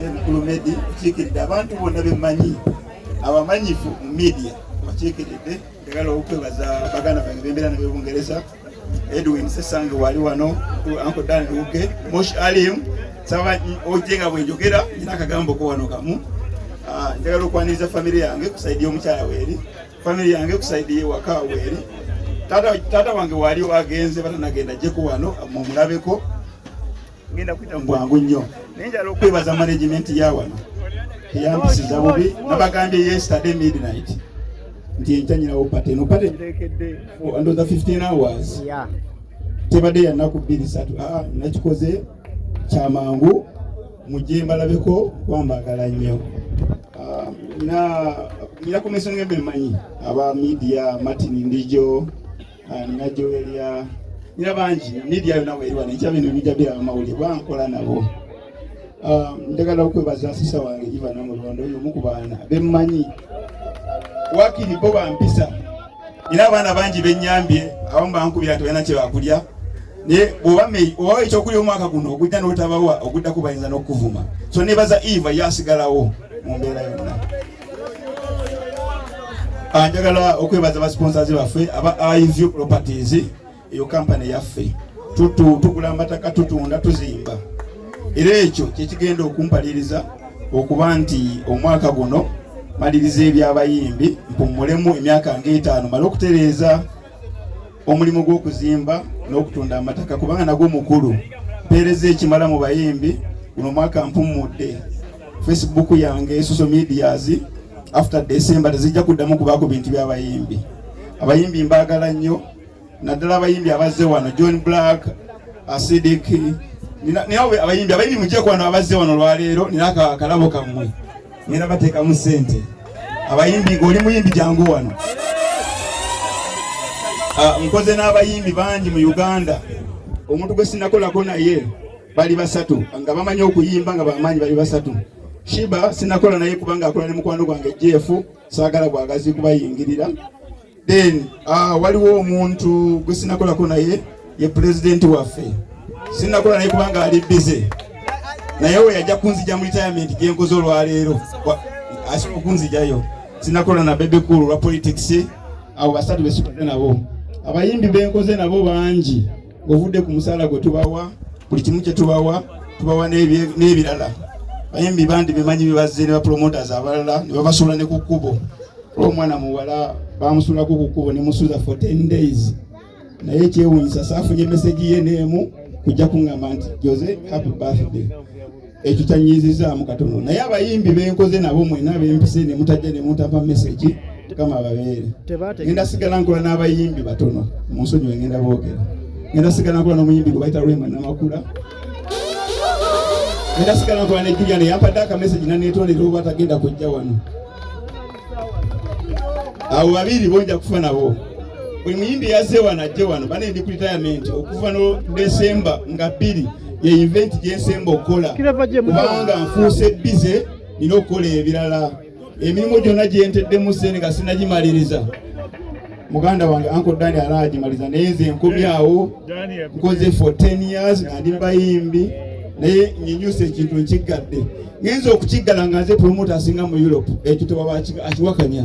Kulumedi okiikiridde abantu bonna bemanyi abamanyifu mu media okiikiridde njagala okwebaza baganda bange bembeera nabyo bungereza Edwin Sesange wali wano Uncle Dan Luge Mosh Alim saba oje nga bwenjogera nina akagambo ko wano kamu ah, njagala okwaniriza famire yange kusaidia omukyala weeri famire yange kusaidia ewaka weeri taata wange wali wagenze batanagenda jeko wano mumulabeko bwangu nnyo naye njala okwebaza management ya wano eyampisiza bubi nabagambye yesterday midnight nti enkyanyirawo pate no pate ntekedde ndoza 15 hours tebadde yanaku bbiri satu ah, nakikoze kyamangu mujje mbalabeko kwambagala nnyo ah, na nina kumesonga ebemanyi aba media martin ndijo ah, nina joelya nina bangi media yona weriwa nekya bino bija bira amawulire bankola nabo ah, njagala okwebaza asisa wange jiva namulondo oyo omu ku baana bemmanyi wakiri bo bampisa nina abaana bangi benyambye abamu bankubira nti balina kyebakulya naye bwoba meyi obawa ekyokulya omwaka guno ogujja notabawa oguddako bayinza n'okukuvuma so nebaza eva yasigalawo mu mbeera yonna Ah, njagala okwebaza basponsazi baffe aba ivu properties eyo kampani yaffe tugula amataka tutunda tuzimba era ekyo kyekigenda okumpaliriza okuba nti omwaka guno maliriza ebyabayimbi mpumulemu emyaka nga etaano male okutereeza omulimu gw'okuzimba n'okutunda amataka kubanga nagwo mukulu mpeereza ekimala mu bayimbi guno mwaka mpummudde facebook yange social medias after december tezijja kuddamu kubaako bintu by'abayimbi abayimbi mbaagala nnyo naddala abayimbi abazze wano john black asidik naye abayimbi abayimbi mujje kwano abazze wano olwaleero nina akalabo kammwe ngenda bateekamu ssente abayimbi ng'oli muyimbi jangu wano ah, nkoze n'abayimbi bangi mu uganda omuntu gwe sinakolako naye bali basatu nga bamanyi okuyimba nga bamaanyi bali basatu shiba sinakola naye kubanga akola ne mukwano gwange jeefu saagala bwagazi kubayingirira Then uh, waliwo omuntu gwe sinakolako naye ye pulezidenti waffe sinakola naye kubanga ali bize naye we yajja kunzija mu retirement gyenkoze olwaleero asobola okunzijayo sinakola na bebe kulu lwa politics abo basatu besikoze nabo abayimbi benkoze nabo bangi ng'ovudde ku musaala gwe tubawa buli kimu kye tubawa tubawa n'ebirala bayimbi bandi bimanyi bibazze ne bapromoters abalala ne babasuula ne ku kkubo olwo omwana muwala bamusuulako ku kkubo ne musuuza for 10 days naye ekyewuunyisa saafunye meseji ye n'emu kujja kuŋŋamba nti jose happy birthday ekyo kyanyiizizaamu katono naye abayimbi benkoze nabo mwena bempise ne mutajja ne muntapa mesegi mukama ababeere ngenda sigala nkola n'abayimbi batono mu nsonyi we ngenda boogera ngenda sigala nkola n'omuyimbi gwe bayita rwema namakula ngenda sigala nkola ne julian yampadde akamesegi naneetondera oba tagenda kujja wano abo babiri bonja kufa nabo buli muyimbi yazze wano ajje wano bane ndi ku retirement okuva no desemba nga bbiri ye event gyensemba okukola kubanga nfuuse bize nina okukola ebirala emirimu gyonna gyenteddemu sente nga sinagimaliriza muganda wange anko dani alaaji maliza naye nze nkomi awo nkoze for 10 years nga ndi bayimbi naye nyinyusa ekintu nkiggadde ngenza okukiggala nga nze promota asinga mu europe ekyo tewaba akiwakanya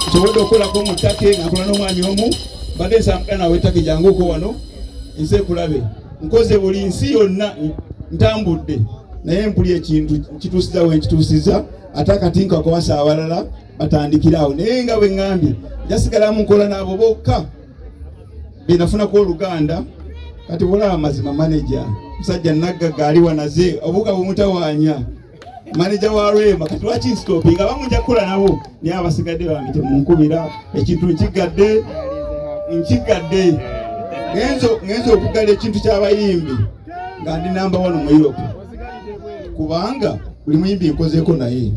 nsobodde okukolako mu take nga nkola n'omwanya omu mbadde nsambula nawe take janguuko wano nze kulabe nkoze buli nsi yonna ntambudde naye mpuli ekintu nkituusiza we nkituusiza ate akati nkakwasa awalala batandikira awo naye nga bwe ŋŋambye jasigala mu nkola n'abo bokka be nafunako oluganda kati bulaba mazima maneja musajja naggaga ali wanaze obuga bumutawaanya maneja wa rwema kati lwaki nsitopi nga bamu nja kukola nabo naye abasigadde bange temunkubira ekintu nkigadde nkigadde ngenza okugala ekintu ky'abayimbi nga ndi namba wano mu europe kubanga buli muyimbi nkozeeko naye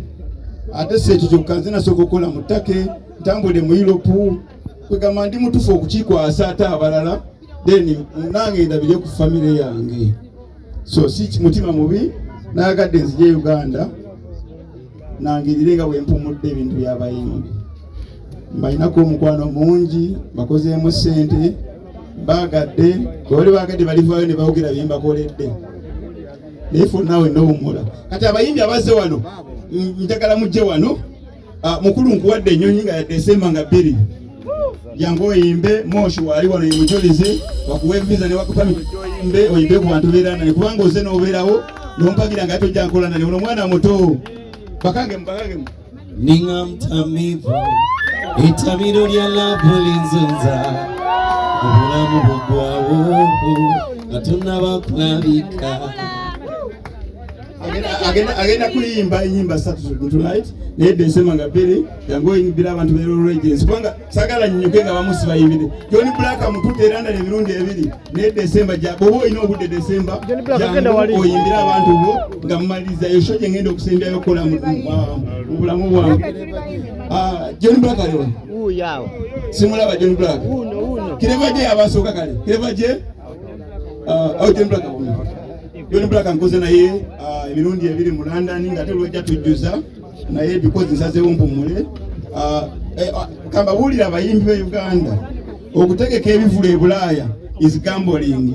ate si ekyo kyokka nze nasooka okukola mu take ntambule mu yuropu kwegamba ndi mutufu okukikwasa ate abalala then nange ndabire ku famire yange so si mutima mubi nayagadde nzije uganda nangirire nga bwempumudde ebintu byabayimbi mbalinako omukwano mungi bakozeemu ssente bagadde bwebali bagadde balivaayo ne bawogera bye mbakoledde naye fonaawe nowummula kati abayimbi abazze wano njagala mujje wano ah, mukulu nkuwadde ennyonyi nga yadde esemba nga bbiri jangu oyimbe moshi wali wano mujulizi wakuwe visa newakupa oyimbe oyimbe ku bantu beera naye kubanga oze n'obeerawo nompagira nga tojja nkola naye ono mwana muto bakangemu bakangemu ninga mtamivu etabiro lya labu linzunza obulamu bugwawo nga tunabakulabika agenda kuyimba enyimba satu tonight naye bensema nga bbiri yangoyimbira abantu berolwegensi kubanga sagala nnyuke nga bamu sibayimbire john black amutudde eranda emirundi ebiri naye desemba bwoba olina obudde desemba oyimbire abantu bo nga mumaliriza esho gye ngenda okusembyayo okukola mu bulamu bwange ah, john black aliwa simulaba john black kireva gye yabasooka kale kireva gye ah, oh, john black John Black nkoze naye ah, emirundi ebiri mu London nga ate lwojja tujjuza naye because nsazeewo mpumule ah, eh, ah, kambabuulira abayimbi be Uganda okutegeka ebivulu e Bulaaya is gambling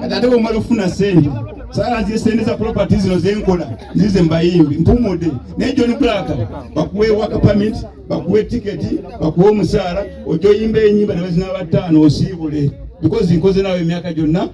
kati ate bwomala okufuna sente sala nzire sente za property zino zenkola nzize mbayimbi mpumude naye John Black bakuwe work permit bakuwe ticket bakuwe omusaala ojoyimba enyimba ne bazina bataano osiibule because nkoze nawe emyaka gyonna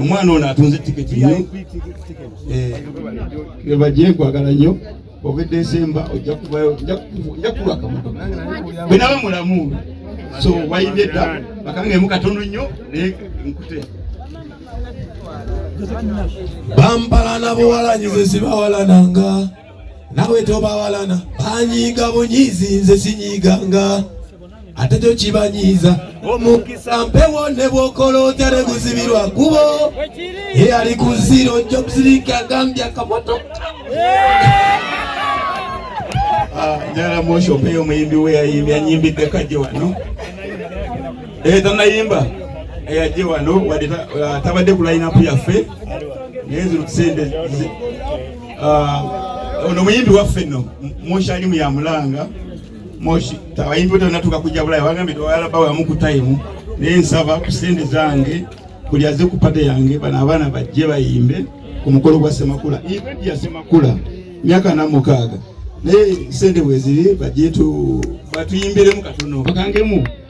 omwana ono atunze tiketi ye eh, baje nkwagala nnyo ova edesemba ojja kuvayo ojja kuwa akamotoka bwe naba mulamu so wayimbye dda bakanga emu katono nnyo naye nkute bambala nabuwalanyize zibawalananga nawe tobawalana banyiiga bunyiizi nze sinyiiganga ate kyo kibanyiiza omukisa mpewo ne bwokola otya ne guzibirwa kubo eyali ku ziro jobsiriki agambye akamotoka ah, njala moshope yo muyimbi we yayimbi anyimbidde kajje wano eyo eh, tanayimba eyajje eh, wano wadde ah, tabadde ku layinapu yaffe naye zino tusente Ah, ono muyimbi waffe no moshi alimu ya mulanga moshi tabayimbi bote natuka kuja bulaya wagambye tewalaba wamu kutayimu naye nsaba ku sente zange buli aze ku pate yange bano abaana bajje bayimbe ku mukolo gwa semakula eventi ya semakula myaka namukaaga naye sente bweziri bajje batuyimbiremu katono bakangemu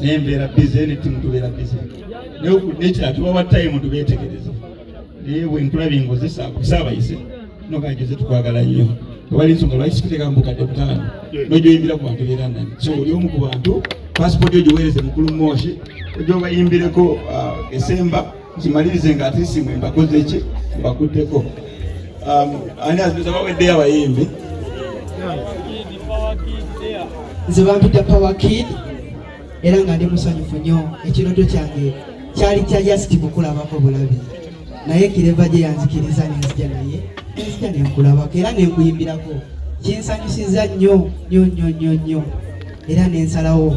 naye mbeera bize ne ttimu tubeera bize naye nekira tubawa tayimu tubeetegereze naye bwe nkulabye ngozesa kusaabayise nogajoze tukwagala nnyo tewali nsonga lwaki sikuteka mubukadde butaano nojoyimbira ku bantu beera nani so oli omu ku bantu pasipooti ogiweereze mukulu mooshi ojobayimbireko uh, esemba nkimalirize nga ate simwe mbakoze ki mbakutteko um, ani azibuza baweddeyo abayimbi nze bampita power kid era nga ndi musanyufu nnyo ekirooto kyange kyali kya just kukulabako bulabi naye kireva gye yanzikiriza nenzija naye nenzija nenkulabako era nenkuyimbirako kinsanyusiza nnyo nnyo nnyo nnyo nnyo era nensalawo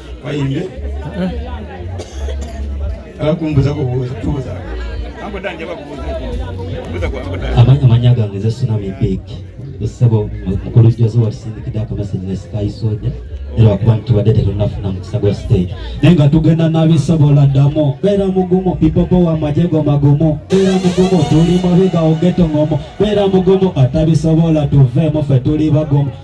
Wayimbye? Ala kumbuza ko buza tubuza. Ango danje bakubuza ko. Buza ko ango danje. Amanya manya gange ze suna bi big. Kusebo mukulu jazo watusindikide akamessage ne Sky Soldier. era wakuba ntubadde tetunafuna mukisa gwa stage naye nga tugenda nabisobola ddamu beera mugumu pipopo wa majego magumu beera mugumu tuli mabiga ogeto ngomo beera mugumu atabisobola tuveemu fe tuli bagumu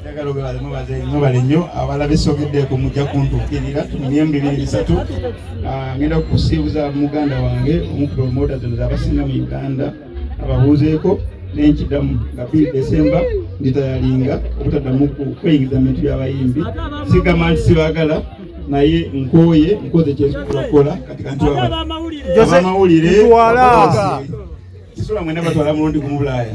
njagala obebale mubaze mubale nnyo abalabe sogeddeko mujja kuntuukirira myemu bibiri bisatu ah, ngenda kusiibuza muganda wange omupromota zino zabasinga mu uganda ababuuzeeko nenkidamu nga biri desemba nditayalinga obutaddamu kweyingiza mu bintu byabayimbi sigamba nti sibagala naye nkooye nkoze kyekola kati kantiabamawulire kisula mwena batwala mulundi ku mubulaaya